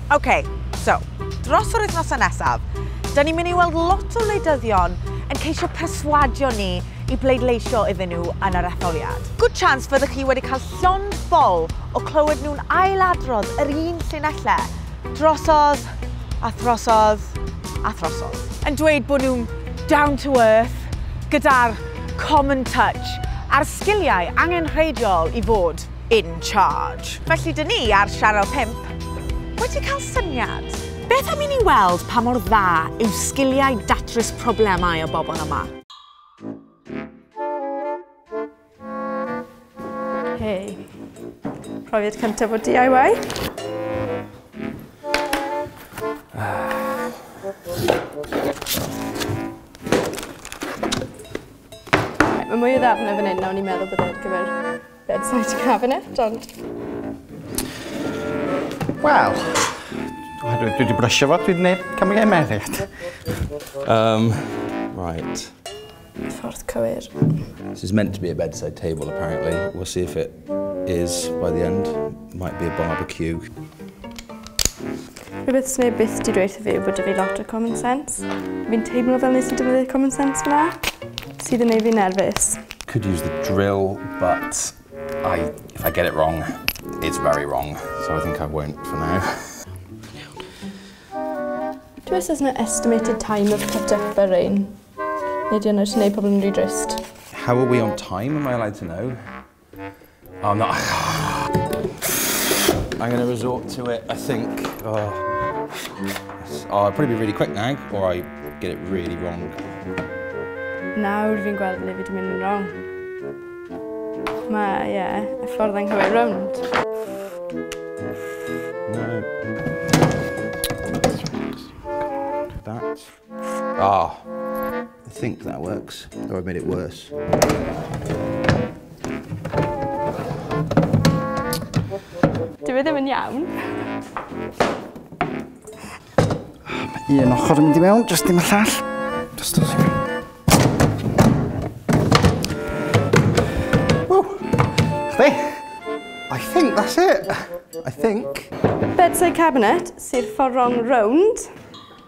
OK, so, dros yr wythnosau nesaf, da ni'n mynd i weld lot o wleidyddion yn ceisio perswadio ni i bleidleisio iddyn nhw yn yr etholiad. Good chance fyddwch chi wedi cael llond ffol o clywed nhw'n ailadrodd yr un llinellau Drosodd, a throsodd, a throsodd. Yn dweud bod nhw'n down to earth, gyda'r common touch, a'r sgiliau angenrheidiol i fod in charge. Felly dyn ni ar Sianel 5 wedi cael syniad. Beth am i ni weld pa mor dda yw sgiliau datrys problemau y bobl yma? Hei. Profiad cyntaf o DIY. Mae mwy o ddafnau fan hyn na o'n i'n meddwl bod e'n gyfer bedside cabinet, ond... Wel, dwi wedi brysio fo, dwi'n gwneud camgymeriad. Um, right. Ffordd cywir. This is meant to be a bedside table apparently. We'll see if it is by the end. Might be a barbecue. Rhywbeth sy'n ei byth di dweud fi yw bod fi lot o common sense. Fi'n teimlo fel nes i defnyddio common sense fyna, sydd yn ei fi nerfus. Could use the drill, but I, if I get it wrong, it's very wrong. So I think I won't for now. Do you know estimated time of cut up a rain? Neu di ond neud pobl yn rhy drist. How are we on time, am I allowed to know? Oh, no. I'm going to resort to it, I think. Oh. oh, I'll probably be really quick now, or I get it really wrong. Nawr fi'n gweld le fi wedi mynd yn wrong. Mae, ie, yeah, y ffordd anghywir rownd. No. That. Oh, I think that works, though I made it worse. Dwi e ddim yn iawn. Un ochr yn mynd i mewn, jyst dim y llall. Just a second. Woo! Chdi? I think that's it. I think. Bedside cabinet, sydd ffordd rong rownd.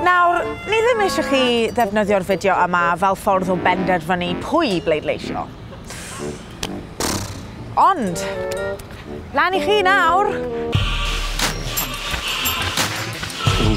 Nawr, ni ddim eisiau chi ddefnyddio'r fideo yma fel ffordd o benderfynu pwy i bleidleisio. Ond, lan i chi nawr! Ww,